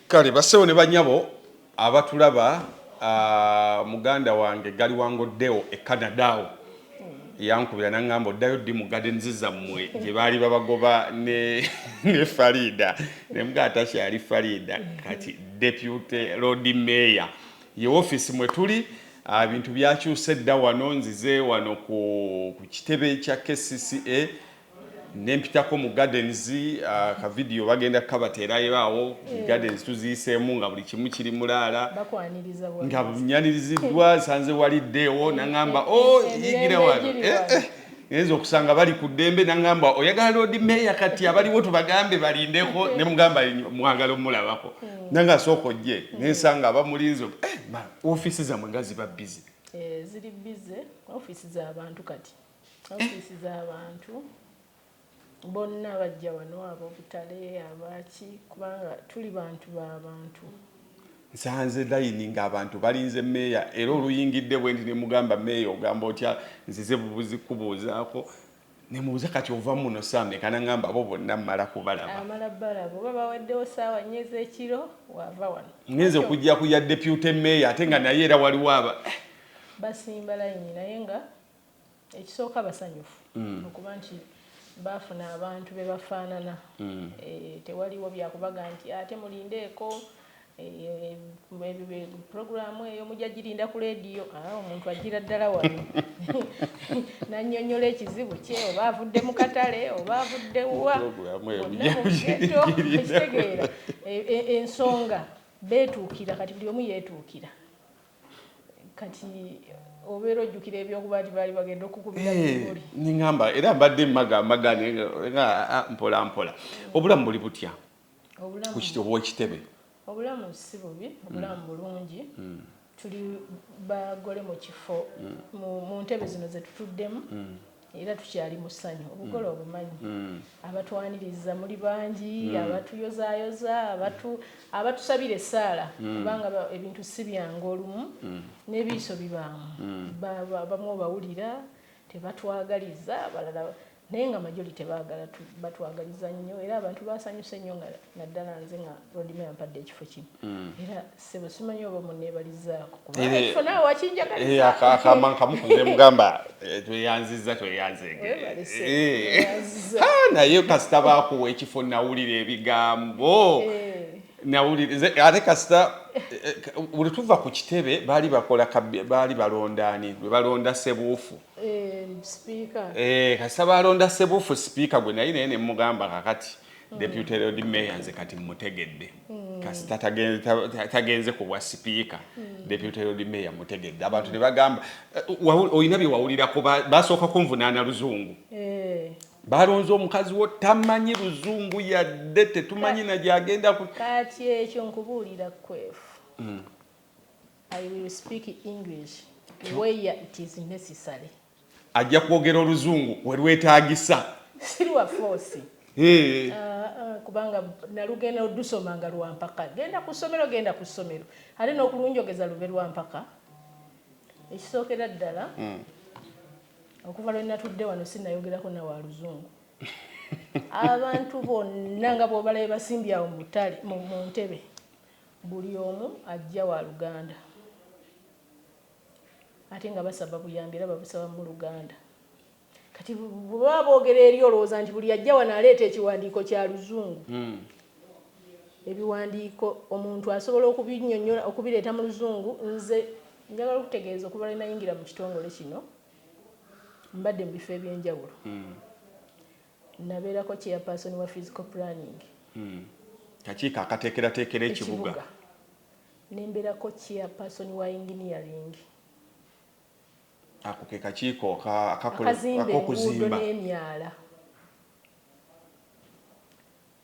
Kale bassebo ne bannyabo abatulaba, muganda wange Gali Wangoddeo e Canada awo yankubira n'angamba oddayo ddi mu gardens zammwe gye baali babagoba ne ne Faridah ne mugamba takyali Faridah kati deputy Lord Mayor ye ofiisi mwe tuli ebintu byakyuse dda wano nzize wano ku kitebe kya KCCA nempitako mu gardens uh, ka video bagenda kukabateerayo awo yeah. gardens tuziyiseemu nga buli kimu kiri mulaala nga nyaniriziddwa sanze waliddeewo nangamba o oh, yigire wano eh, eh. ngenza okusanga bali ku ddembe nangamba oyagala loodi meeya kati abaliwo tubagambe balindeko ne mugamba mwagala omulabako hmm. nange asooka ojje hmm. nensanga abamulinzi eh, ofiisi zamwe nga ziba bizi ziri bize ofiisi zabantu kati ofiisi z'abantu bonna bajja wano ab'obutale abaaki kubanga tuli bantu ba bantu nsanze layini ng'abantu balinze meeya era oluyingidde bwendi ne mugamba meeya ogamba otya nzize bubuzi kubuuzaako ne mubuuza kati ova muno saa meka nangamba abo bonna mmala kubalaba amala balaba oba baweddewo saawa nnyo ez'ekiro waava wano ngenze okujja ku ya depute meeya ate nga naye era waliwo aba basimba layini naye nga ekisooka basanyufu okuba nti baafuna abantu be bafaanana tewaliwo bya kubaga nti ate mulindeeko pulogulaamu eyo mujja girinda ku leediyo omuntu ajjira ddala wano n'annyonnyola ekizibu kye oba avudde mu katale oba avudde wa ekitegeera ensonga beetuukira kati buli omu yeetuukira kati obeera ojjukira ebyokuba nti baali bagenda okukubira eh, ningamba era mbadde maga maga nga mpola mpola obulamu buli butya owekitebe obulamu si bubi obulamu mm. bulungi mm. tuli bagole mu kifo mm. mu ntebe zino zetutuddemu era tukyali mu ssanyu obugole mm. obumanyi mm. abatwaniriza muli bangi mm. abatuyozayoza abatu abatusabira essaala kubanga ebintu si byangu olumu n'ebiiso bibaamu bamu obawulira tebatwagaliza abalala naye nga majoli tebagala batwagaliza nnyo era abantu basanyuse nnyo nga naddala nze nga rodima yampadde ekifo kino mm. era sebo simanyi oba munebalizaako kubakifo eh, nawe wakinjagalizaakaamba eh, nkamukuze mugamba eh, tweyanziza tweyanzegnaye kasita bakuwa ekifo nawulira ebigambo ate kasita buli tuva ku kitebe baali bakola baali balondaani lwe balonda sebuufu kasita balonda sebuufu sipiika gwe naye naye nemugamba kakati mm. deputy lord mayor nze kati mutegedde mm. kasita tagenze ku bwa sipiika mm. deputy lord mayor mutegedde abantu ne bagamba eh, olina bye wawulirako basooka kunvunaana luzungu eh. balonze omukazi wo tamanyi luzungu yadde tetumanyi nagyagenda kati ekyo nkubuulira kwefu i will speak english where it is necessary ajja kwogera oluzungu we lwetaagisa si lwa foosi Eh, Ah, ah, kubanga nalugenda odusoma nga lwampaka genda ku ssomero genda ku ssomero ate n'okulunjogeza lube lwampaka ekisookera ddala okuva lwe natudde wano sinayogerako nawe aluzungu abantu bonna nga bwobalabe basimbye awo mu ttale mu mu ntebe buli omu ajja wa luganda Ate nga basaba buyambi era babusaba mu Luganda. Kati bwe baba boogera eri olowooza nti buli ajja wano aleeta ekiwandiiko kya Luzungu? Ebiwandiiko omuntu asobola okubinnyonnyola, okubireeta mu Luzungu. Nze njagala okutegeeza okuva lwe nayingira mu kitongole kino, mbadde mu bifo eby'enjawulo. Nabeerako Chairperson wa Physical Planning. Kakiiko akateekerateekera ekibuga. Ne mbeerako Chair person wa Engineering. Ako ke kakiiko akakola akazimba enguudo n'emyala.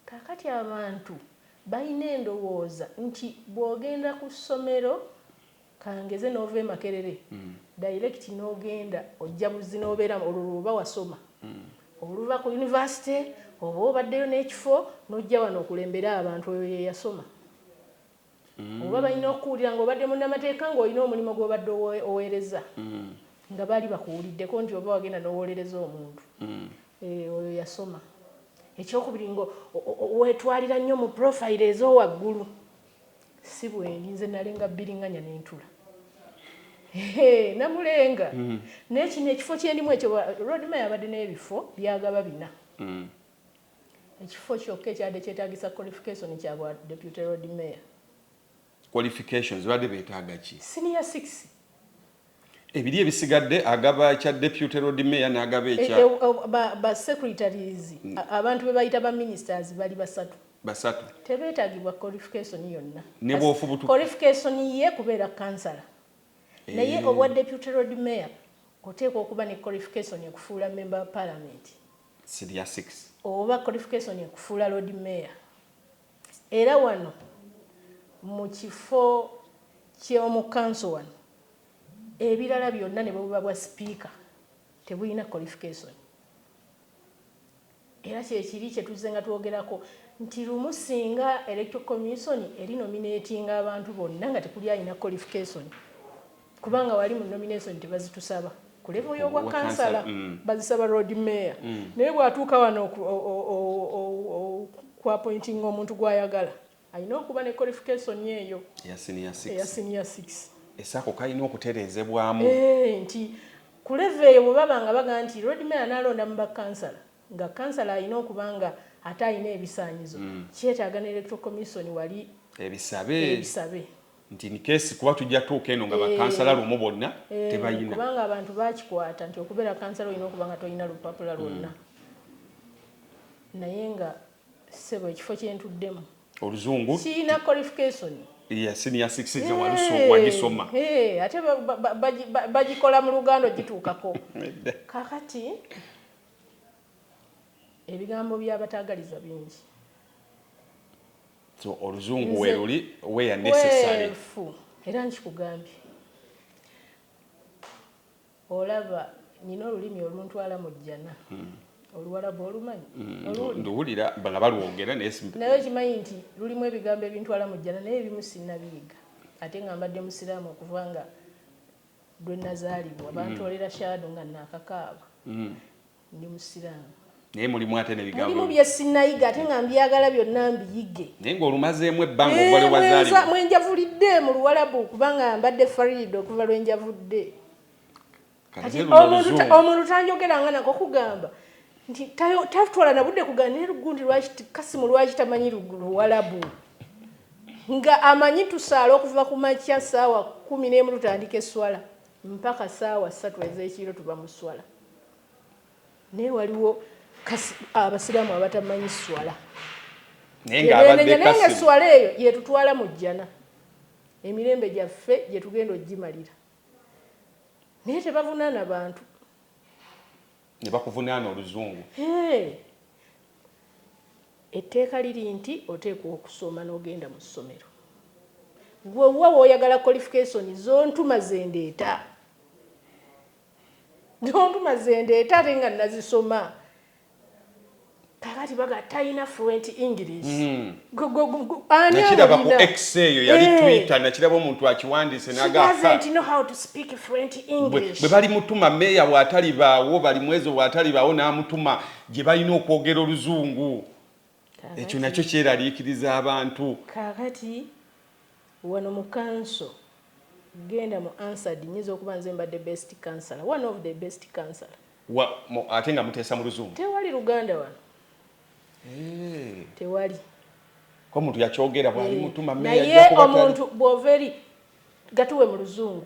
Kaakati abantu balina endowooza nti bw'ogenda ku ssomero kangeze n'ova e Makerere mm. direct n'ogenda ojja buzzi n'obeera olwo lw'oba wasoma mm. oluva ku yunivasite oba obaddeyo n'ekifo n'ojja wano okulembere abantu oyo ye yasoma. Oba balina okukuwulira ng'obadde munnamateeka ng'olina omulimu gw'obadde oweereza nga baali bakuwuliddeko nti oba wagenda n'owolereza omuntu eeh oyo yasoma. Ekyokubiri nga weetwalira nnyo mu profile ez'owaggulu. Si bwendi nze nalenga bbiringanya ne ntula. Hee namulenga naye kino ekifo kyendimu ekyo Road Mayor abadde n'ebifo by'agaba bina. Ekifo kyokka ekyabadde kyetaagisa qualification kya bwa Deputy Lord Mayor. Qualifications babadde betaaga ki? Senior six. Ebiri ebisigadde agaba ekya Deputy Lord Mayor n'agaba E- ekya e- o- ba, ba secretaries Mm. a- abantu be bayita ba ministers bali basatu basatu. tebeetagibwa qualification yonna Ne Kas- bw'ofubutuka. qualification ye kubeera kansala naye Eh. obwa deputy road mayor oteekwa okuba ne qualification ekufuula member wa parliament sibya six. Oba qualification ekufuula lord mayor era wano mukifo kyomu council wano ebirala byonna nebwebuba bwa sipiika tebulina qualification era kyekiri kyetuzze nga twogerako nti lumu singa electoral commission eri nominatinga abantu bonna nga tekuli alina qualification. kubanga wali mu nomination tebazitusaba ku levo y'obwa kansala mm. bazisaba road mayor mm. naye bw'atuuka wano okuapointinga omuntu gw'ayagala alina okuba ne qualification eyo eya senior six esaako kalina okutereezebwamu eh, nti ku levo eyo bwe baba nga baga nti road mayor anaalonda mu bakansala nga kansala alina okuba nga ate alina ebisaanyizo mm. kyetaaga ne electoral commission wali ebisabe ebisabe nti in case kuba tujja tuuka eno nga eh, bakansala lumu bonna eh, tebayina kubanga abantu bakikwata nti okubeera kansala olina okuba nga tolina lupapula lwonna hmm. naye nga sebo ekifo kyentuddemu oluzungu kirina qualification yasiniya sikisiza walusowanyisoma ate bagikola mu luganda ogituukako kakati ebigambo byabataagaliza bingi so oluzungu weruli weya necessary era nkikugambye olaba nina olulimi oluntwala mu jjana hmm. oluwalabu olumanyi hmm, nduwulira nga balwogera naye okimanyi nti lulimu ebigambo ebintwala mu jjana naye ebimu sinabiyiga ate nga mbadde musiraamu okuva nga lwe nazaalibwa hmm. bantolera shaado nga nakakaaba ndi musiraamu naye mulimu ate nebigambo bye sinayiga ate nga mbyagala byonna mbiyige naye ng'olumazeemu ebbanga eh, obale wazaalibwa mwe njavulidde mu luwalabu kubanga mbadde fariida okuva lwe njavudde omuntu tanjogera nga nako kugamba nti tatwala na budde kugamba naye lugundi lwaki kasimu lwaki tamanyi luwalabu nga amanyi tusaala okuva ku makya saawa kumi n'emu tutandika eswala mpaka saawa ssatu ez'ekiro tuba mu swala naye waliwo abasiraamu abatamanyi swala naye nga swala eyo yetutwala mu jjana emirembe gyaffe gyetugenda ogimalira naye tebavunaana bantu nebakuvunaana oluzungu etteeka liri nti oteekwa okusoma n'ogenda mu ssomero gwe wa woyagala qualification zontuma zendeeta Donkuma zendeeta ate nga nazisoma kakati baga talina fluent english hmm. nakiraba ku x eyo yali eh. twitter nakiraba omuntu akiwandiise nagabwe bali mutuma meeya watalibaawo bali mwezo watalibaawo n'amutuma gye balina okwogera oluzungu ekyo nakyo kyeraliikiriza abantu kakati Wano mu kanso genda mu answered nyinza okuba nze mbadde best councilor one of the best councilor. Wa mu ate nga muteesa mu luzungu. Tewali luganda wano Eeh. tewali. Ko muntu yakyogera bwali Eeh mutuma mayor naye ajja kuba tali. omuntu bwova eri gatuwe mu luzungu.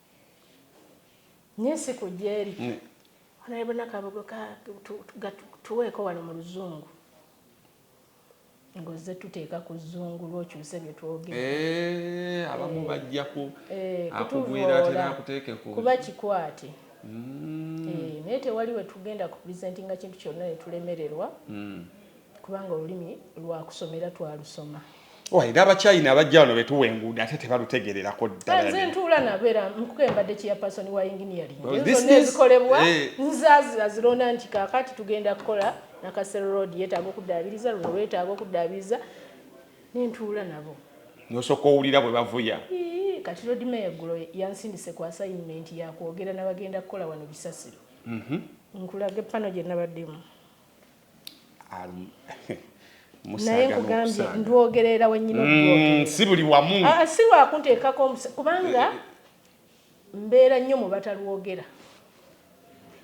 nye si ku gyeri naye bona kabugo tuweeko wano mu luzungu ngozze tuteeka ku zungu lwokyuse bye twogera eh, abamu eh, bajja eh, akugwira ate nakuteeke ku kuba kikwate mm. naye tewali wetugenda ku presentinga kintu kyonna netulemererwa mm. kubanga olulimi lwakusoma era twalusoma owaye n'abakyayina abajja wano betuwa enguudo ate tebalutegererako ddalaze ntuula nabo era nkuko embadde chairperson wa engineering zonna ezikolebwa eh. nzazira zirona nti kakati tugenda kukola nakasero road yetaaga okuddaabiriza luno lwetaaga okuddaabiriza nentuula nabo nosooka owulira bwe bavuya kati road mayor eggulo yansindise ku assignment yakwogera nabagenda kukola wano bisasiro mhm. nkulage pano gye nabaddemu naye nkugambye ndwogerera wenyini mm, si buli wamu ah, ah, si lwakunteekako omusa kubanga eh, eh. mbeera nnyo mu batalwogera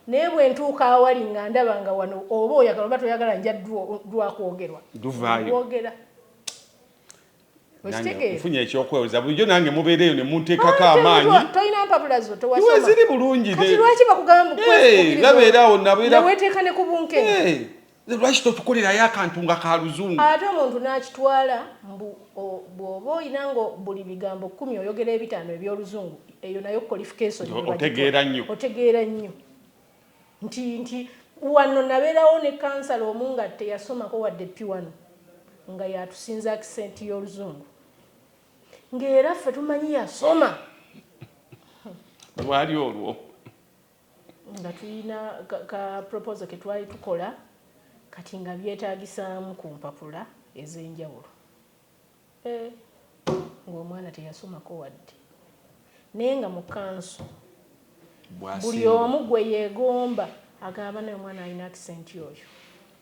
naye bwe ntuuka awali nga ndaba nga wano oba oyagala oba toyagala nja lwakwogerwa lwogera nfunye ekyokweweza bulijjo nange mubeereeyo ne munteekako amaanyi tolina mpapula zo tewasoma ziri bulungi kati lwaki bakugamba mukwezi nabeera awo nabeera weteeka ne ku bunkenke lwaki totukolerayo akantu nga ka luzungu ate omuntu n'akitwala mbu bw'oba olina nga buli bigambo kkumi oyogera ebitaano eby'oluzungu eyo nayo qualification otegeera nnyo otegeera nnyo Nti, nti, wano nabeerawo ne kansala omu nga teyasomako wadde ppi wano, nga y'atusinza akisenti y'Oluzungu. Nga era ffe tumanyi yasoma. Lwali olwo. Nga tulina ka, ka proposal ke twali tukola, kati nga byetaagisaamu ku mpapula ez'enjawulo. Eh, ng'omwana teyasomako wadde. Naye nga mu kanso buli omu gwe yeegomba agamba banaye omwana alina accent oyo.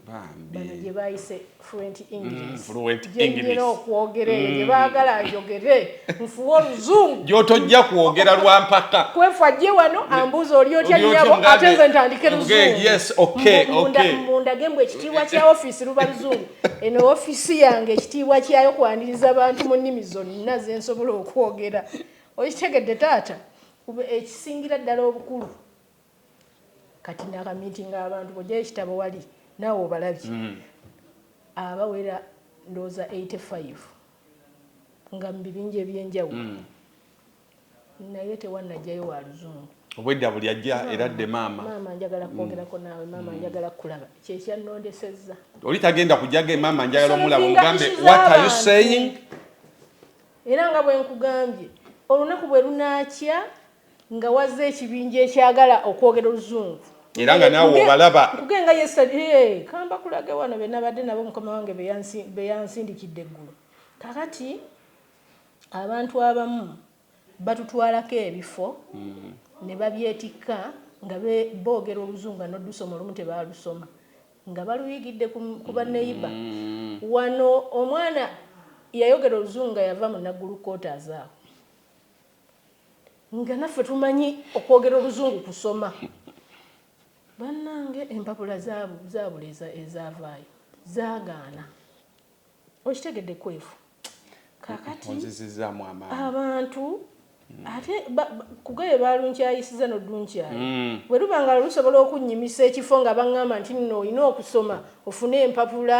Bano gye baayise fluent mm, English gye nnyina okwogera eyo gye mm. baagala njogere nfuwe oluzungu gy'otojja kwogera lwa mpaka kwefa gye wano mm. ambuuza oli otya nnyabo ate nze ntandike luzungu mundage mbu ekitiibwa kya ofiisi luba luzungu eno ofiisi yange ekitiibwa kyayo kwaniriza bantu mu nnimi zonna zensobola okwogera okitegedde taata ekisingira ddala obukulu kati nakamitinga abantu bojayo ekitabo wali naawe obalabye mm. abawera ndooza 85 nga mu bibinja ebyenjawulo mm. naye tewanajjayo wa luzungu obwedda buli ajja era adde maama maama njagala mm. kwogerako naawe maama mm. njagala kulaba kyekyanondesezza oli tagenda kujaga maama njagala omulaba ogambe what are you saying era nga bwenkugambye olunaku bwe lunaakya nga wazze ekibinja ekyagala okwogera oluzungu era nga naawe obalaba kugenga yesade kamba kulage wano benabadde nabo mukama wange beyansindikidde eggulu kakati Abantu abamu batutwalako ebifo ne babyetikka nga boogera Oluzungu nga n'oddusoma olumu tebaalusoma nga baluyigidde ku banneyiba. Wano omwana yayogera Oluzungu nga yava mu Naggulu Quarters awo nga naffe tumanyi okwogera Oluzungu kusoma. Bannange empapula zaabula ezaavaayo zaagaana. Okitegedde kwefu kakati abantu hmm. ate kugaye balunkyayisiza nodunkyaya hmm. bwe luba nga lusobola okunnyimisa ekifo nga baŋŋamba nti nno olina okusoma ofune empapula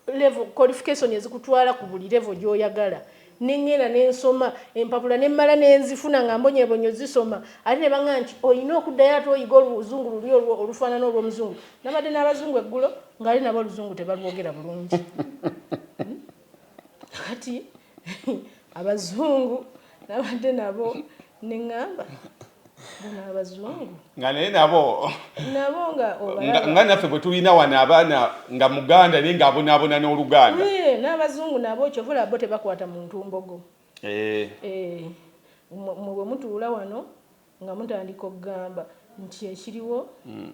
levo qualification ezikutwala ku buli levo gy'oyagala Ne ŋŋenda ne nsoma empapula ne mmala ne nzifuna nga mbonyebonyo zisoma. Ate ne baŋŋamba nti, Olina okuddayo ate oyige Oluzungu luli olwo olufaanana olw'Omuzungu. Nnabadde n'Abazungu eggulo ng'ate nabo Oluzungu tebalwogera bulungi. Kaakati Abazungu nnabadde nabo. ne ŋŋamba bano abazungu nga naye nabo nabo nga obalaba nga naffe bwe tulina wano abaana nga muganda naye ng'abonaabona n'oluganda n'abazungu nabo kyova olaba bo tebakwata mu ntumbogo eh. eh, mwe bwe mutuula wano nga mutandika okugamba nti ekiriwo hmm.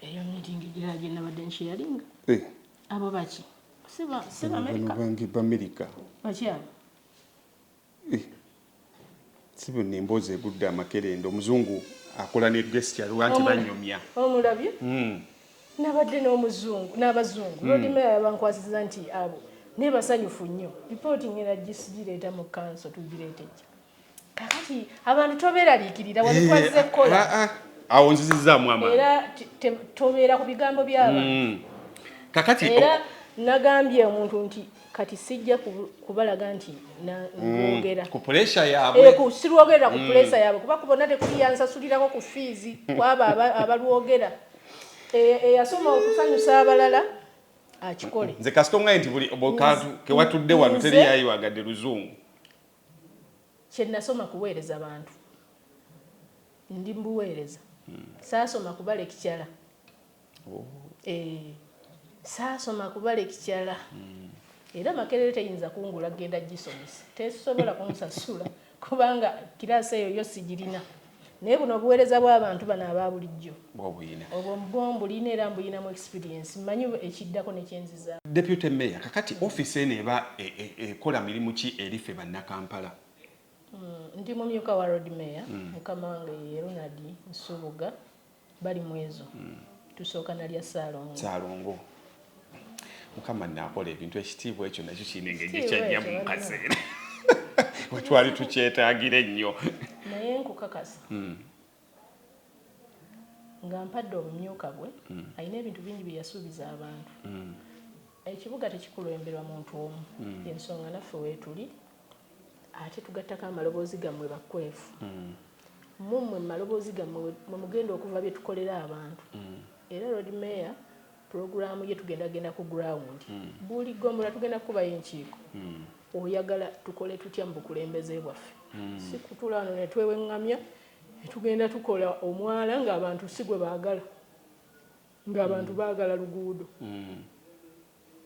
eyo mitingi girala gye nabadde nkyeyalinga eh. abo baki si baamerika baki abo Eeh sebo eno emboozi egudde amakerenda omuzungu akola ne gesture lwa nti banyumya. Omulabye? Uhmm. Nabadde n'omuzungu n'abazungu Lord Mayor yabankwasizza nti abo naye basanyufu nnyo report ngenda gireeta mu council tugireete ejja kakati abantu toberaliikirira wali twazze kukola awo nzizizzaamu amaanyi era tobeera ku bigambo by'abantu kakati era nagambye omuntu nti kati sijja kubalaga nti nangera mm, ku pulesa yaabwe eh, sirwogerera ku mm. pulesa yaabwe kuba kubona tekuli yansasulirako ku fiizi kwabo abalwogera eh, eyasoma eh, okusanyusa abalala akikole nze kasita omugaye nti buli kantu kewatudde wano teri yayiwagadde luzungu kyenasoma kuweereza bantu ndi mbuweereza mm. saasoma kubala ekikyala oh. eh, saasoma kuba lekikyala mm. era makerere teyinza kungula genda gisomesa tesobola kunsasula kubanga kiraasi eyo yo sigirina naye buno obuweereza bw'abantu bano aba bulijjo obwo mbulina era mbuyinamu experience mmanyi ekiddako nekyenziza deputy mayor kakati ofiisi eno eba e, e, ekola mirimu ki eri ffe bannakampala hmm, ndi mumyuka wa road mayor hmm. mukama wange ye ronald nsubuga bali mwezo mm. tusooka nalya salongo salongo mukama nakola ebintu ekitiibwa ekyo nakyo kirina engeri ekyajjamu mukaseera wetwali tukyetagira ennyo naye nkukakasa mm. nga mpadde obumyuka bwe mm. alina ebintu bingi byeyasuubiza abantu mm. ekibuga tekikulemberwa muntu omu mm. ensonga naffe wetuli ate tugattako amaloboozi gammwe bakwefu mm. mumwe mumaloboozi gammwe mwemugenda okuva byetukolera abantu mm. era lord mayor pulogulaamu ye tugenda genda ku ground mm. buli gombolola tugenda kukubayo enkiiko mm. oyagala tukole tutya mu bukulembeze bwaffe mm. si kutula wano netweweŋŋamya netugenda tukola omwala ng'abantu si gwe baagala ng'abantu mm. baagala luguudo mm.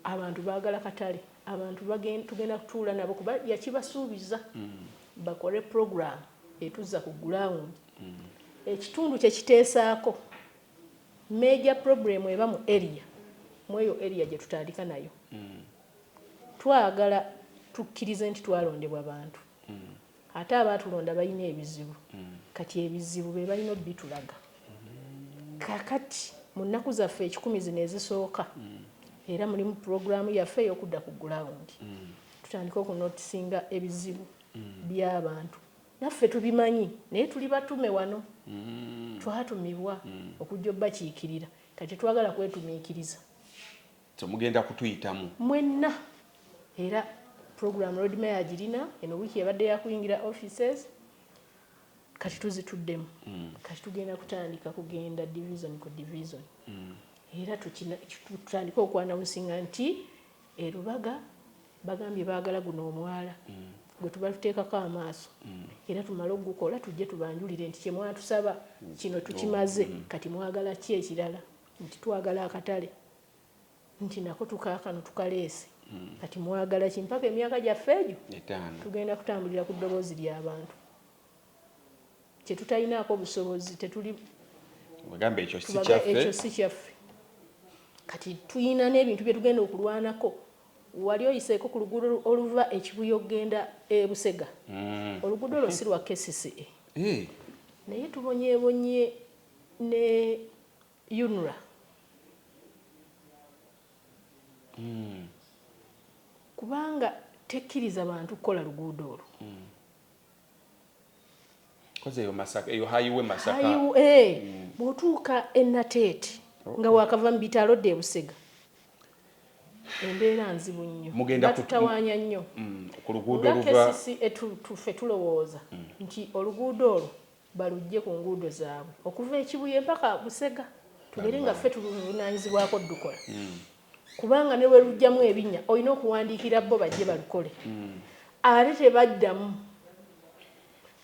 Abantu baagala katale. Abantu bagen, tugenda kutuula nabo kuba yakibasuubiza bakole pulogulaamu etuzza ku gulawundi. Ekitundu kye kiteesaako meeja pulobulemu eba mu eriya, mu eyo eriya gye tutandika nayo. Twagala tukkirize nti twalondebwa bantu Ate abaatulonda balina ebizibu. Kati ebizibu be balina obitulaga kaakati mu nnaku zaffe ekikumi zino ezisooka era mulimu pulogulaamu yaffe ey'okudda ku gulawundi tutandike okunootisinga ebizibu by'abantu naffe tubimanyi naye tuli batume wano twatumibwa okujja obakiikirira kati tetwagala kwetumiikiriza. temugenda kutuyitamu mwenna era program road mayor agirina eno wiiki yabadde yakuyingira offices kati tuzituddemu mm. kati tugenda kutandika kugenda division ku division mm. era tutandika okwanawunsinga nti erubaga bagambye baagala guno omwala mm. gwe tuba tuteekako amaaso mm. era tumale okugukola tujje tubanjulire nti kyemwatusaba mm. kino tukimaze mm. kati mwagala ki ekirala nti twagala akatale nti nako tukakano tukaleese hmm. kati mwagala ki mpaka emyaka gyaffe egyo tugenda kutambulira ku ddoboozi ly'abantu kyetutalinaako obusobozi tetuli ekyo si kyaffe kati tulina n'ebintu bye tugenda okulwanako wali oyiseeko ku luguudo oluva ekibuya okugenda e busega hmm. oluguudo olwo si lwa kcca eh. naye tubonyebonye ne UNRA mm. kubanga tekkiriza bantu kukola luguudo olwo mm. Eh, mm. bwotuuka enateeti oh. nga wakava mu bitalo dda ebusega embeera nzibu nnyo batutawanya nnyo mm, nga kesisi etufe tulowooza mm. nti oluguudo olwo baluggye ku nguudo zaabwe okuva e Kibuye mpaka Busega tugere nga ffe tuluvunaanyizibwako odukola hmm. kubanga ne bwe lujjamu ebinya olina okuwandiikira bo bajje balukole hmm. ate tebaddamu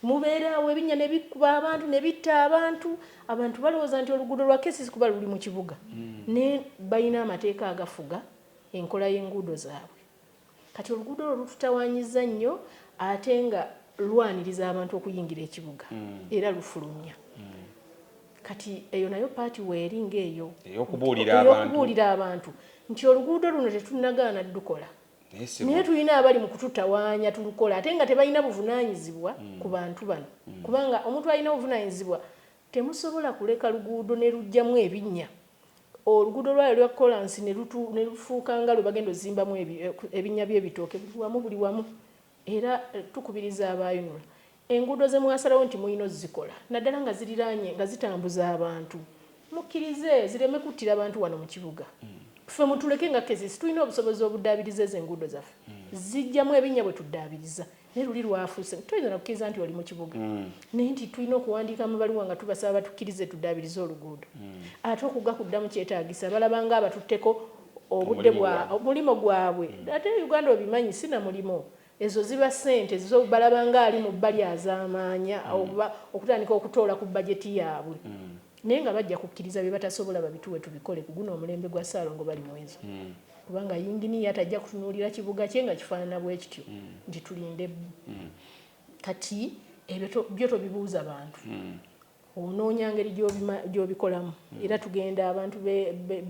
mubeeraawo ebinya ne bikuba abantu ne bitta abantu abantu balowooza nti oluguudo lwa kesisi kuba luli mu kibuga hmm. ne balina amateeka agafuga enkola y'enguudo zaabwe Kati oluguudo olwo lututawaanyizza nnyo ate nga lwaniriza abantu okuyingira ekibuga mm. era lufulumya mm. kati eyo nayo paati weeri ng'eyo ey'okubuulira abantu nti oluguudo luno tetunnagaana dukola naye tulina abali mu kututawaanya tulukola ate nga tebalina buvunaanyizibwa mm. ku bantu bano mm. kubanga omuntu alina obuvunaanyizibwa Temusobola kuleka luguudo ne luggyamu ebinnya, oluguudo lwalyo lwa kkolaasi ne lutu, ne lufuuka nga lwe bagenda ozimbamu ebi, ebinnya by'ebitooke buli wamu, buli wamu. Era tukubiriza aba UNRA, enguudo ze mwasalawo nti mulina ozzikola, naddala nga ziriraanye, nga zitambuza abantu, mukkirize zireme kuttira bantu wano mu kibuga. Ffe mutuleke nga KCC tulina obusobozi obuddaabiriza ezo enguudo zaffe. Ziggyamu ebinnya bwe tuddaabiriza. naye luli lwafuuse nti toyinza nakukkiriza nti oli mu kibuga mm. naye nti tulina okuwandiika mu baluwa nga tubasaba batukkirize tuddaabirize oluguudo mm. ate okugga kuddamu kyetaagisa balabanga abatutteko obudde mulimu gwabwe mm. ate uganda obimanyi si na mulimu ezo ziba ssente zo balabanga ali mu bbali azaamaanya oba okutandika okutoola ku bajeti yaabwe naye nga bajja kukkiriza bye batasobola babituwe tubikole ku guno omulembe gwa ssaalongo bali mwezo kubanga yinginiya tajja kutunuulira kibuga kye nga kifaanana bwe kityo mm. nti tulinde bbu mm. kati ebyo byo tobibuuza bantu mm. onoonya ngeri gy'obikolamu mm. era tugenda abantu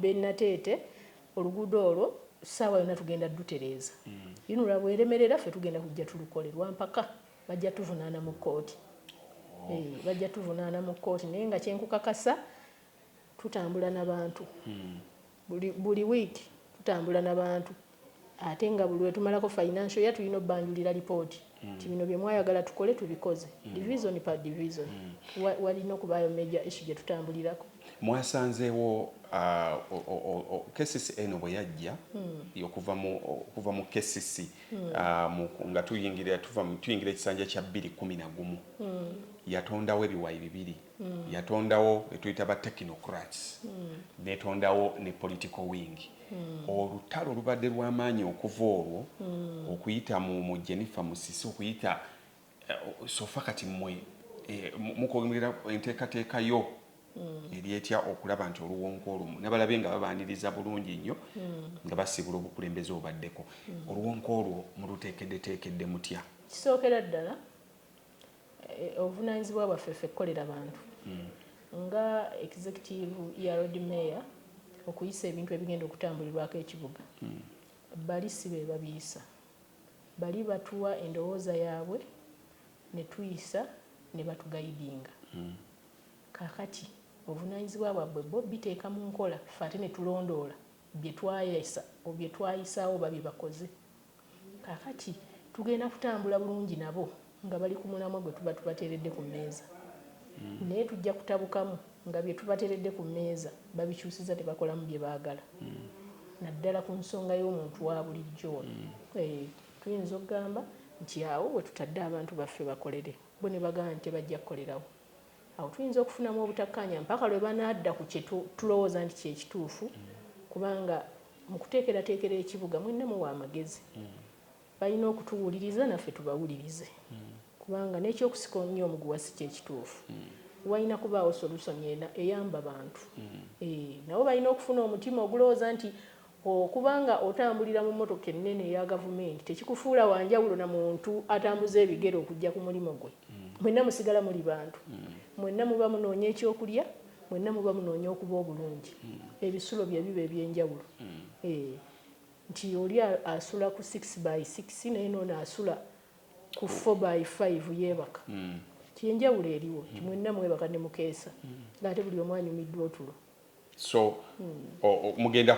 benateete be, be oluguudo olwo saawa yonna tugenda dutereeza mm. yino lwabweremerera ffe tugenda kujja tulukole lwampaka bajja tuvunaana mu kkooti oh. eh, bajja tuvunaana mu kkooti naye nga kyenkukakasa tutambula nabantu mm. Buli buli week tutambula nabantu ate nga buli wetumalako financial year tulina obanjulira report nti bino byemwayagala tukole tubikoze division per division wa walina okubaayo major issue gyetutambulirako. Mwasanzeewo a KCC eno bweyajja okuva mu okuva mu KCC mu nga tuyingira tuva tuyingira ekisanja kya bbiri kumi nagumu yatondawo ebiwayi bibiri mm. yatondawo betuyita ba technocrats mm. netondawo ne political wing mm. olutalo lubadde lwamaanyi okuva olwo mm. okuyita mu, mu jennifer musisi okuyita uh, sofa kati mwe eh, mukogerera enteekateeka yo mm. eryetya okulaba nti oluwonko olumu nabalabe nga babaniriza bulungi nnyo mm. nga basiibula obukulembeze obubaddeko mm. oluwonko olwo muluteekeddeteekedde mutya kisookera ddala E, obuvunaanyizibwa bwaffe ffe kukolera bantu nga executive ya Lord Mayor okuyisa ebintu ebigenda okutambulirwako ekibuga. Bali si be babiyisa, bali batuwa endowooza yaabwe ne tuyisa ne batugayidinga. Kaakati obuvunaanyizibwa bwabbwe bo biteeka mu nkola, ffe ate ne tulondoola bye twayisa, bye twayisaawo oba bye bakoze. Kaakati, tugenda kutambula bulungi nabo nga bali ku mulamwa gwe tuba tubateeredde ku mmeeza. Naye tujja kutabukamu nga bye tubateeredde ku mmeeza babikyusizza ne bakolamu bye baagala, naddala ku nsonga y'omuntu wa bulijjo ono. Eeh, tuyinza okugamba nti awo we tutadde abantu baffe bakolere. Bo ne bagamba nti tebajja kukolerawo. Awo tuyinza okufunamu obutakkaanya mpaka lwe banaadda ku kye tulowooza nti kye kituufu kubanga mu kuteekerateekera ekibuga mwenna muwa amagezi. Balina okutuwuliriza naffe tubawulirize kubanga n'ekyokusika omunya omuguwa si kye kituufu. Walina kubaawo solusoni eyamba bantu. Nabo balina okufuna omutima ogulowooza nti Okuba nga otambulira mu mmotoka ennene eya Gavumenti tekikufuula wa njawulo na muntu atambuza ebigere okujja ku mulimu gwe. Mwenna musigala muli bantu. Mwenna muba munoonya ekyokulya, mwenna muba munoonya okuba obulungi. Ebisulo bye biba eby'enjawulo. Eeh, nti oli asula ku six by six naye n'ono asula ku four by five yeebaka. Nti enjawulo eriwo, nti mwenna mwebaka ne mukeesa ng'ate buli omu anyumiddwa otulo. so mugenda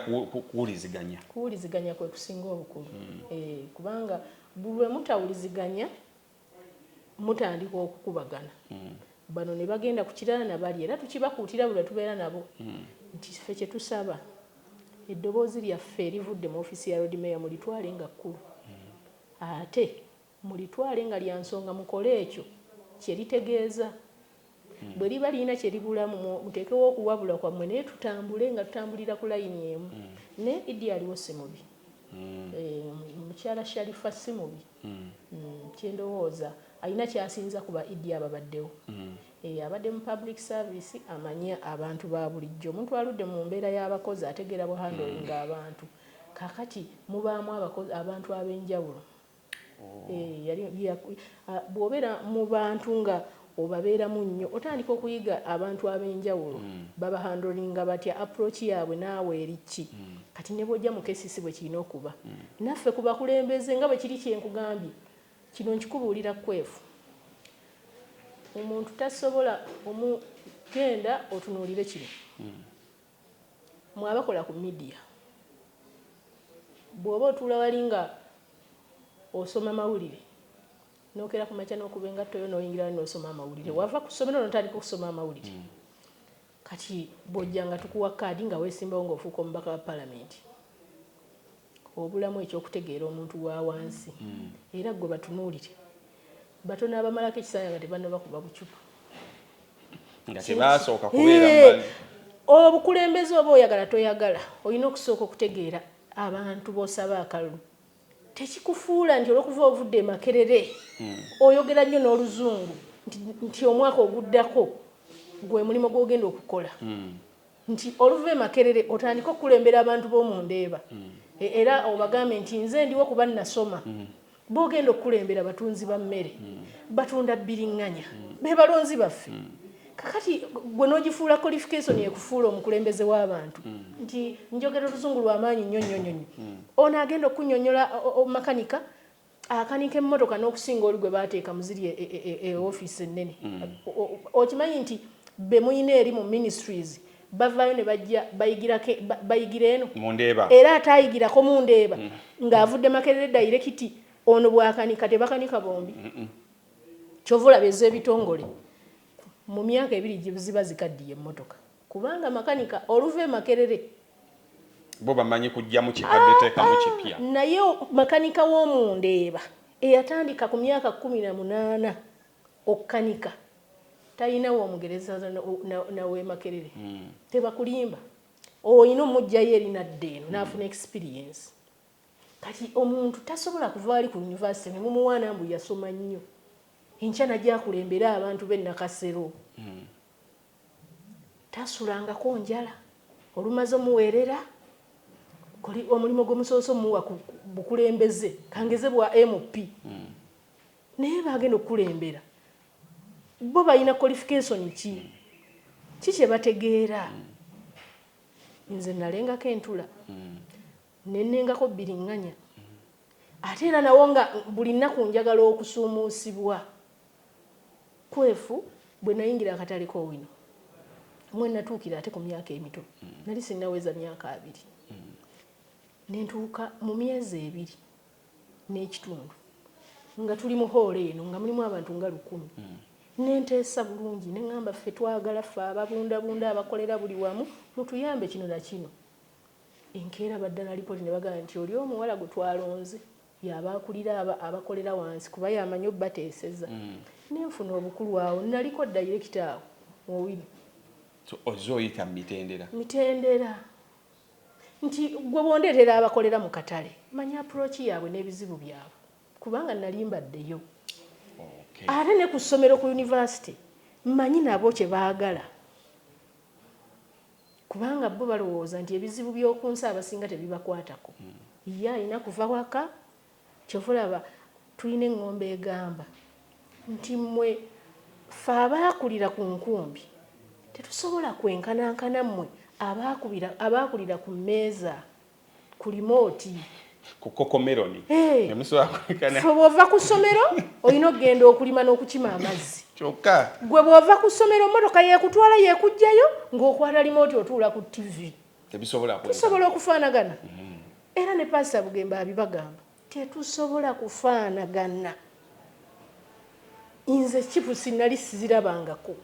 kuwuliziganya kuwuliziganya kwe kusinga obukulu hmm. eh, kubanga buli lwe mutawuliziganya mutandika okukubagana hmm. bano ne bagenda ku kirala na bali era tukibakuutira buli tubeera nabo hmm. nti ffe kye tusaba eddoboozi lyaffe erivudde mu ofiisi ya road mayor mulitwale nga kkulu ate Mulitwale nga lya nsonga mukole ekyo kye litegeeza. Bwe liba lirina kye libulamu mwo muteekewo okuwabula kwammwe naye tutambule nga tutambulira ku layini emu. Ne Idi aliwo si mubi. Mukyala Sharifah si mubi kye ndowooza alina ky'asinza ku ba Idi ababaddewo. Abadde mu public service amanyi abantu ba bulijjo. Omuntu aludde mu mbeera y'abakozi ategeera bu handling abantu. Kaakati mubaamu abantu ab'enjawulo. Eh, yali ya- ah, bw'obeera mu bantu nga obabeeramu nnyo otandika okuyiga abantu ab'enjawulo baba handlinga batya approach yaabwe naawe eri ki kati ne bw'ojja mu kcc bwe kirina okuba naffe ku bakulembeze nga bwe kiri kye nkugambye kino nkikubuulira kwefu omuntu tasobola omu genda otunuulire kino Mwe abakola ku media bwoba otuula wali nga osoma mawulire nokera kumakya nokuba engatto yo noyingira wali nosoma amawulire wava ku somero notandika okusoma amawulire mm. kati bwojja nga tukuwa kaadi nga wesimbawo ngaofuuka omubaka wa palamenti obulamu eky'okutegeera omuntu wa wansi era ggwe batunuulire batono abamalako ekisaaya nga tebannabakuba bucupa nga tebaasooka kubeera mbali obukulembeze oba oyagala toyagala olina okusooka okutegeera abantu b'osaba akalulu tekikufuula nti olwokuva ovudde emakerere hmm. oyogera nnyo n'oluzungu nti omwaka oguddako gwe mulimu gwogenda okukola hmm. nti oluva e Makerere otandike okukulembera abantu b'omu Ndeeba e, era obagambe nti nze ndiwo kuba nnasoma b'ogenda okukulembera batunzi ba mmere, batunda bbiriŋŋanya, be balonzi baffe. Kakati gwe n'ogifuula qualification ekufuula omukulembeze w'abantu nti njogera oluzungu lwa maanyi nnyo nnyo nnyo nnyo, ono agenda okukunnyonnyola o, o, makanika, akanika emmotoka n'okusinga oli gwe baateeka mu ziri e, e, e, e ofiisi ennene mm. okimanyi nti be mulina eri mu ministries bavaayo ne bajja bayigira eno era ate ayigirako mu ndeeba mm. ng'avudde makerere dayirekiti ono bwakanika tebakanika bombi kyova olaba ez'ebitongole mu myaka ebiri ziba zikaddiye emmotoka Kubanga makanika oluva e Makerere. Bo bamanyi kuggyamu kikadde teekamu kipya. Naye makanika w'omu Ndeeba eyatandika ku myaka kkumi na munaana okukanika talina w'omugereza na w'e Makerere. Tebakulimba. Olina omuggyayo eri n'adda eno n'afuna experience. Kati omuntu tasobola kuva wali ku yunivasite ne mumuwaana mbu yasoma nnyo enkya n'ajja akulembere abantu b'e Nakasero. Tasulangako njala olumaze omuwerera kuli omulimu gwemusobose omuwa ku bukulembeze kangeze bwa MP mm. naye bagenda okukulembera bo balina qualification ki mm. ki kyebategeera mm. nze nalengako entula mm. nenengako biringanya mm. ate era nawo nga buli nnaku njagala okusuumuusibwa Kwefu, Bwe nayingira akatale k'Owino mwe natuukira ate ku myaka emito nali sinnaweza myaka abiri ne ntuuka mu myezi ebiri n'ekitundu nga tuli mu hoolo eno nga mulimu abantu nga lukumi ne nteesa bulungi ne ŋŋamba ffe twagala ffe ababundabunda abakolera buli wamu mutuyambe kino na kino. Enkeera baddala lipooti ne bagamba nti oli omuwala gwe twalonze Y'aba akulira abo abakolera wansi kuba y'amanyi obubateeseza. Ne nfuna obukulu awo. Nnaliko ddayirekita awo mu Owino. So ozze oyita mu mitendera? Mitendera. Nti ggwe bw'ondeetera abakolera mu katale, manya approach yaabwe n'ebizibu byabwe kubanga nnali mbaddeyo. Okay. Ate ne ku ssomero ku yunivasite mmanyi nabo kye baagala. Kubanga bo balowooza nti ebizibu by'oku nsi abasinga tebibakwatako. Ye alina kuva waka. Kyova olaba tulina eŋŋombo egamba nti, Mmwe ffe abaakulira ku nkumbi tetusobola kwenkanankana mmwe abaakulira ku mmeeza. ku limooti ku kokomeroni ne musobola kulekana. So bw'ova ku ssomero olina okugenda okulima n'okukima amazzi kyokka. Gwe bw'ova ku ssomero mmotoka yeekutwala yeekuggyayo ng'okwata limooti otuula ku ttivi. Tebisobola kwekana. Tusobola okufaanagana. Mm-hmm. Era ne Paasita Bugembe abibagamba. Tetusobola kufaanagana. Nze chipusi nali sizirabangako.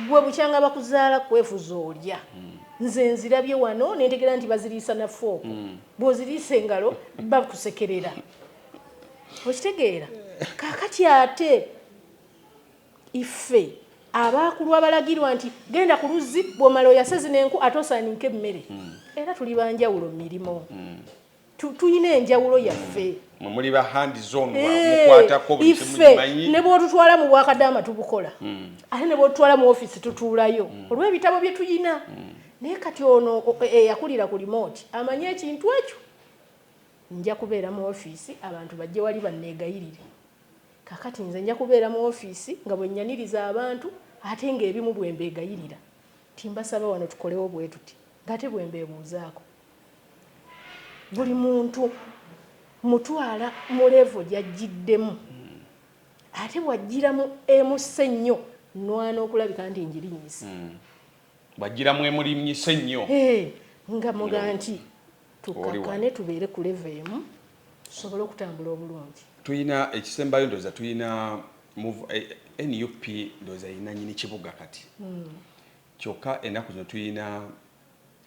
Ggwe bukyanga bakuzaala kwefuza olya. Nze nzirabye wano ne ntegeera nti baziriisa na fooko. Bw'oziriisa engalo bakusekerera. Okitegeera? Kaakati ate iffe abaakulwa abalagirwa nti genda ku luzzi bw'omala oyase zino enku ate osaaninke emmere. Era tuli ba njawulo mu mirimu. tulina enjawulo yaffe mwe muli ba hand zone eh, mukwatako buli kimu kimanyi ne bwotutwala mu bwakadaama tubukola hmm. ate ne bwotutwala mu office tutuulayo hmm. olw'ebitabo bye tuyina hmm. naye kati ono eyakulira e, e, ku remote amanyi ekintu ekyo nja kubeera mu office abantu bajje wali banneegayirire kakati nze nja kubeera mu office nga bwe nyaniriza abantu ate ng'ebimu bwe mbeegayirira timbasaba wano tukolewo bwe tuti ng'ate bwe mbeebuuzaako buli muntu mutwala mu levo gyajjiddemu hmm. ate bwajjira mu emussa ennyo nwana okulabika nti njirinyisa hmm. bwajjira mu emulimnyisa ennyo nga muga nti tukakane tubeere ku levo emu tusobole okutambula obulungi tulina ekisembayo ndoza tulina eh, eh, nup ndoza yinanyini kibuga kati hmm. kyokka enaku zino tulina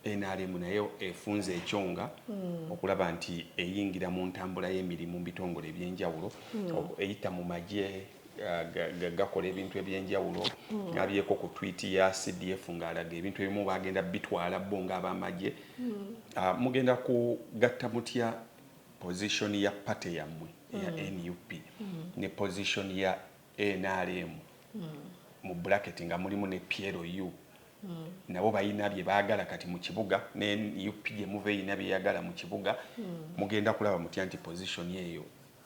Nrm nayo efunze ekyonga hmm. okulaba nti eyingira mu ntambula y'emirimu mu bitongole eby'enjawulo hmm. eyita mu magye gakola ebintu ebyenjawulo hmm. nabyeko ku twit ya cdf ng'alaga ebintu ebimu bagenda bitwala bo ng'abamagye hmm. ah, mugenda kugatta mutya position ya pate yammwe ya hmm. nup ne position ya nrm mu bbulaketi nga mulimu ne PLU nabo balina bye baagala kati mu kibuga, ne nup gye muva erina by'eyagala mu kibuga, mugenda kulaba mutya nti position eyo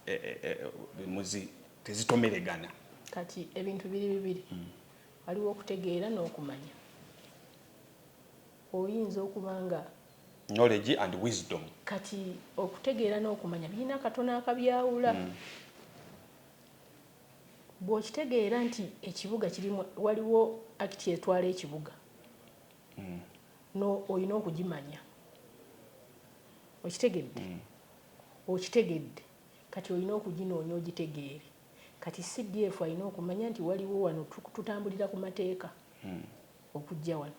e, e, e, muzi tezitomeregana. Kati ebintu biri bibiri, hmm. waliwo okutegeera n'okumanya. Oyinza okuba nga knowledge and wisdom. Kati okutegeera n'okumanya birina katono akabyawula. Mm. Bw'okitegeera nti ekibuga kirimu waliwo akiti etwala ekibuga olina okugimanya. Okitegedde? Okitegedde. Kati olina okuginoonya ogitegeere. Kati CDF alina okumanya nti waliwo wano tutambulira ku mateeka. okujja wano.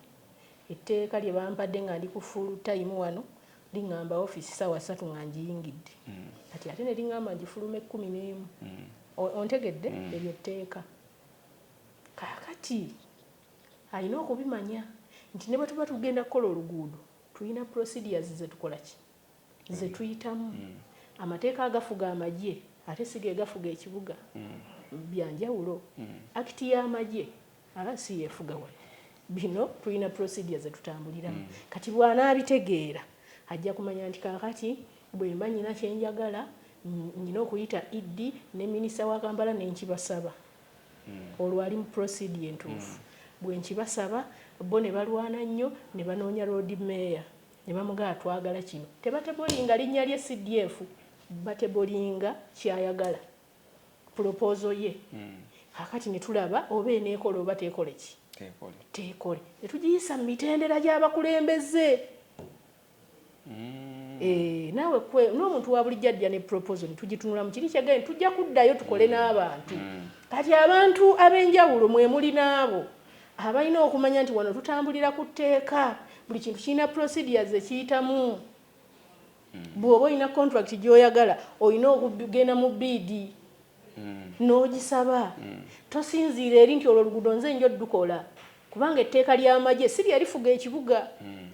Etteeka lye bampadde nga ndi ku full time wano lingamba office ssaawa ssatu nga ngiyingidde kati ate ne lingamba ngifulume kkumi n'emu. O, ontegedde? Eryo tteeka. Kaakati alina okubimanya nti ne bwe tuba tugenda kukola oluguudo tulina procedures ze tukola ki? zetuyitamu mm. amateeka agafuga amagye ate si gegafuga ekibuga mm. byanjawulo mm. akiti y'amagye aba si yefuga wano bino tulina procedure zetutambuliramu mm. kati bwanaabitegeera ajja kumanya nti kakati bwemba nyina kyenjagala nyina okuyita ed ne minisita wa kampala nenkibasaba mm. olwo ali mu procedure entuufu mm. bwenkibasaba bo ne balwana nnyo ne banoonya road mayor Ne bamugamba twagala kino. Tebatebolinga linnya lye CDF, batebolinga ky'ayagala, pulopoozo ye. Kaakati ne tulaba oba eneekola oba teekole ki? Teekole. Ne tugiyisa mu mitendera gy'abakulembeze. Eeh, naawe kwe, n'omuntu wa bulijjo ajja ne pulopoozo ne tugitunulamu. Kiri kye gambye nti tujja kuddayo tukole n'abantu. Kati abantu ab'enjawulo mwe muli n'abo. Abalina okumanya nti wano tutambulira ku tteeka, buli kintu kirina procedures ze kiyitamu. Hmm. Bw'oba olina contract gy'oyagala olina okugenda mu bbiidi hmm. n'ogisaba. Hmm. Tosinziira eri nti olwo oluguudo nze nja odukola kubanga etteeka ly'amagye si lye lifuga ekibuga.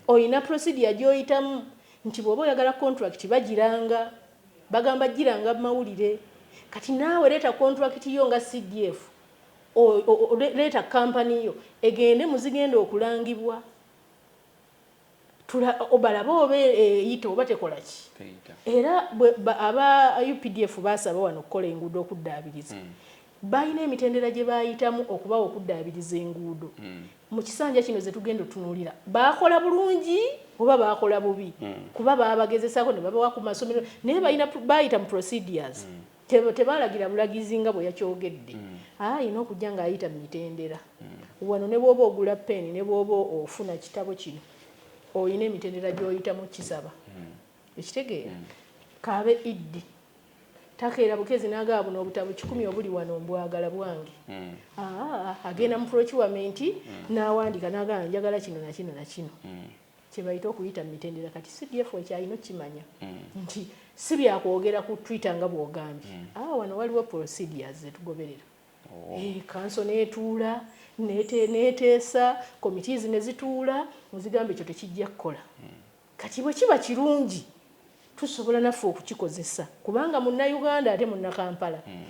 Olina procedure gy'oyitamu nti bw'oba oyagala contract bagiranga bagamba giranga mawulire kati naawe leeta contract yo nga cdf o, le, leeta company yo egende mu zigenda okulangibwa tula, o, balabe oba e, eyita oba tekola ki. Era bwe, ba, aba updf baasaba wano okukola enguudo okuddaabiriza. Mm. Balina emitendera gye baayitamu okubawa okuddaabiriza enguudo. Mm. Mu kisanja kino ze tugenda otunuulira baakola bulungi oba baakola bubi. Mm. Kuba baabagezesaako ne babawa ku masomero naye balina, baayita mu procedures. Mm. Tebaalagira bulagizi nga bwe yakyogedde. Alina okujja ng'ayita mu mitendera. Wano ne bw'oba ogula ppeeni ne bw'oba ofuna kitabo kino, olina emitendera gy'oyitamu okukisaba. Okitegeera? K'abe Iddi. Takeera bukezi n'agaba buno obutabo kikumi obuli wano, Mbwagala bwange. A, agenda mu pulokiwamenti n'awandiika n'agamba, Njagala kino na kino na kino. kyebayita okuyita mumitendera kati CDF ekyalina okukimanya mm. nti si byakwogera ku twitter nga bwogambye mm. ah, wano waliwo procedures zetugoberera oh. eh, kanso netuula neteesa committees nezituula nezigamba ekyo tekijja kukola mm. kati bwe kiba kirungi tusobola naffe okukikozesa kubanga munnauganda ate munnakampala mm.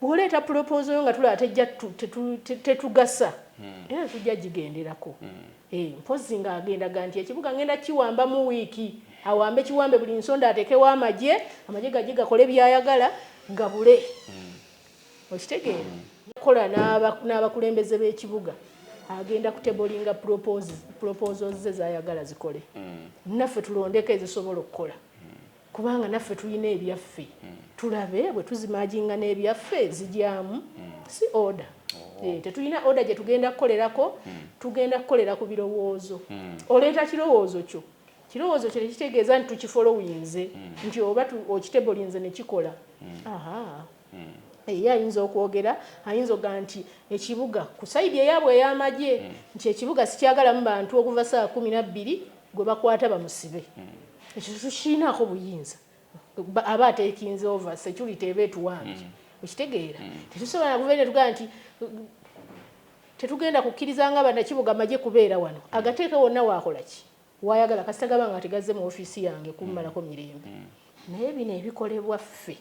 Bw'oleeta pulopoozo yo nga tulaba tejja tetugasa era tetujja gigenderako. Eeh mpozzi ng'agenda ga nti ekibuga ngenda kiwambamu wiiki. Awambe kiwambe buli nsonda ateekewo amagye, amagye gajje gakole by'ayagala gabule. Okitegeera? Kola n'aba n'abakulembeze b'ekibuga agenda kutebolinga pulopoozi pulopoozo ze z'ayagala zikole naffe tulondeko ezisobola okukola. kubanga naffe tulina ebyaffe tulabe bwe tuzimaginga n'ebyaffe zijyamu si order oh. eh, tetulina order gye tugenda kukolerako hmm. tugenda kukolera ku birowoozo hmm. oleeta kirowoozo kyo kirowoozo kyo tekitegeeza nti tukifolowinze hmm. nti oba okitebolinze ne kikola aha Ye ayinza okwogera, ayinza okugamba nti ekibuga ku sayidi eyaabwe ey'amagye nti ekibuga sikyagalamu bantu okuva ssaawa kkumi na bbiri gwe bakwata bamusibe. Ekyo tukirinaako buyinza. Aba ateekinze ova, securite eba etuwambye. Okitegeera? Tetusobola na kuva eri ne tugamba nti tetugenda kukkiriza nga Bannakibuga magye kubeera wano. Agateeke wonna waakola ki? wayagala kasita gaba nga tegazze mu ofiisi yange kummalako mirembe naye bino ebikolebwa ffe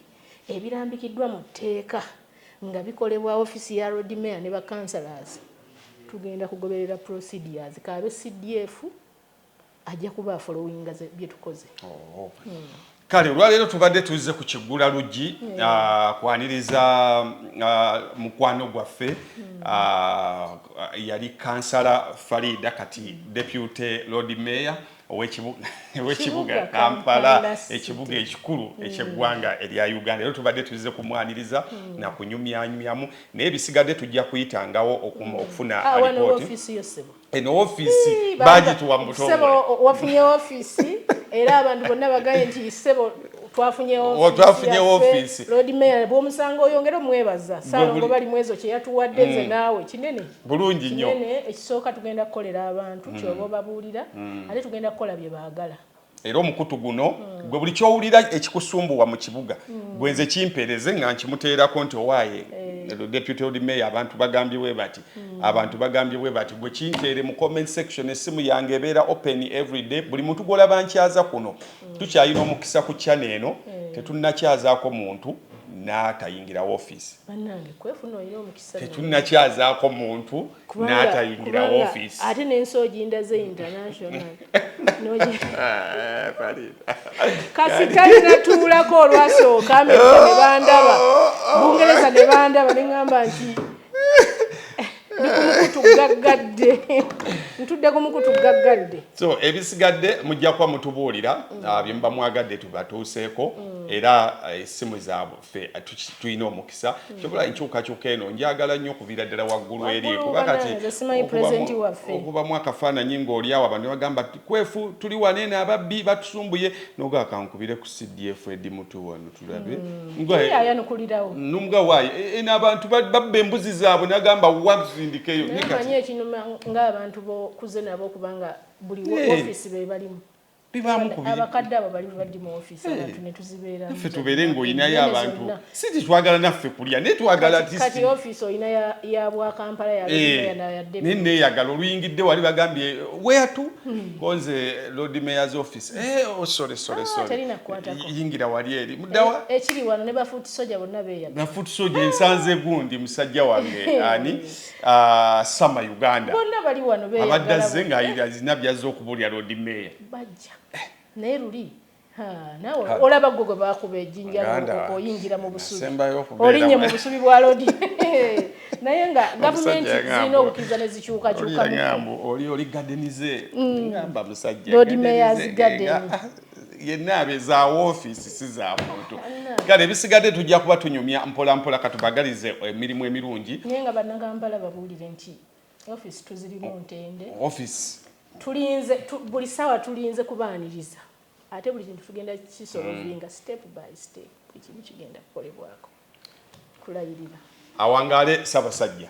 ebirambikiddwa mu tteeka nga bikolebwa ofiisi ya Lord Mayor ne ba councillors tugenda kugoberera procedures k'abe CDF ajja kuba afolowinga bye tukoze. Kale olwaleero tubadde tuzze ku kiggula luggi mm. ah, kwaniriza ah, mukwano gwaffe mm. ah, yali kansala Farida kati mm. deputy lord mayor ow'ekibuga Kampala ekibuga ekikulu eky'eggwanga erya Uganda era tubadde tuzze kumwaniriza na kunyumyanyumyamu naye bisigadde tujja kuyitangawo okufuna alipooti eno offiisi bagituwa mutowafunye offiisi era abantu bonna bagaye nti sebo twafunye offiisi lodmeya bwomusango oyongere omwebaza salongo bali mwezo kyeyatuwadde nze mm. naawe kinene bulungi nyo ekisooka tugenda kukolera abantu mm. kyoba obabuulira mm. ate tugenda kukola bye baagala era omukutu guno gwe buli kyowulira ekikusumbuwa mu kibuga gwe nze kimpeereze nga nkimuteerako nti owaaye eh. deputy old mayor abantu bagambye bwe bati hmm. abantu bagambye bwe bati gwe kinteere mu comment section essimu yange ebeera open everyday buli muntu gwolaba nkyaza kuno hmm. tukyalina omukisa ku chana eno eh. tetunnakyazaako muntu n'atayingira woofiisi tetunnakyazaako muntu n'atayingira ofiisi ate n'ensi ogindaze international ah, kasita natuulako olwasooka amerika ne bandaba bungereza ne bandaba ne ŋŋamba nti ndikumukutu gaggadde ntudde ku mukutu gaggadde so ebisigadde mujja kuba mutubuulira mm. ah, bye muba mwagadde tubatuuseeko mm. era esimu eh, zaabwe ffe tulina omukisa hmm. kyobola enkyukakyuka eno njagala nnyo okuviira ddala waggulu eri kuba kati okubamu akafaananyi ng'olyawo abantu bagamba kwefu tuli wane n'ababbi batusumbuye nogaa kankubire ku cdf edi mutu wano tulabe hmm. numuga waayo e, e, n'abantu babba embuzi zaabwe nagamba wazindikeyo naye ekinuma ng'abantu bokuze nabo kubanga buli ofiisi bebalimu bibaamu ku biri abakadde abo bali badi mu office eh. abantu ne tuzibeera naffe tubeere ng'olinayo abantu si nti twagala naffe kulya naye twagala kati office olina ya bwa kampala ya eh. naye neeyagala oluyingidde wali bagambye weatu hmm. konze lord mayor's office eh, oh, sorry sorry ah, sorry yingira wali eri mudawa ekiri wano ne bafuuti soja bonna beeyagala bafuuti soja ensanze gundi musajja wange ani Ah, sama uganda abadde azze ngaalina byazze okubulya lodi meeya naye luli olaba gwe gwe bakuba ejinja oyingira mu busubi olinye mu busubi bwa lodi naye nga gavumenti zirina obukkiriza ne zikyukakyukaoli oli gadenize mm. ngamba musajja lodi meyazi gadeni yenna abe za woofiisi si za muntu kale ebisigadde tujja kuba tunyumya mpolampola katubagalize emirimu emirungi naye nga bannakampala babuulire nti ofiisi tuzirimu ntende ofiisi tulinze tu, buli saawa tulinze kubaaniriza ate buli kintu tugenda kisolovinga mm. step by step buli kimu kigenda kukolebwako kulayirira awangaale sabasajja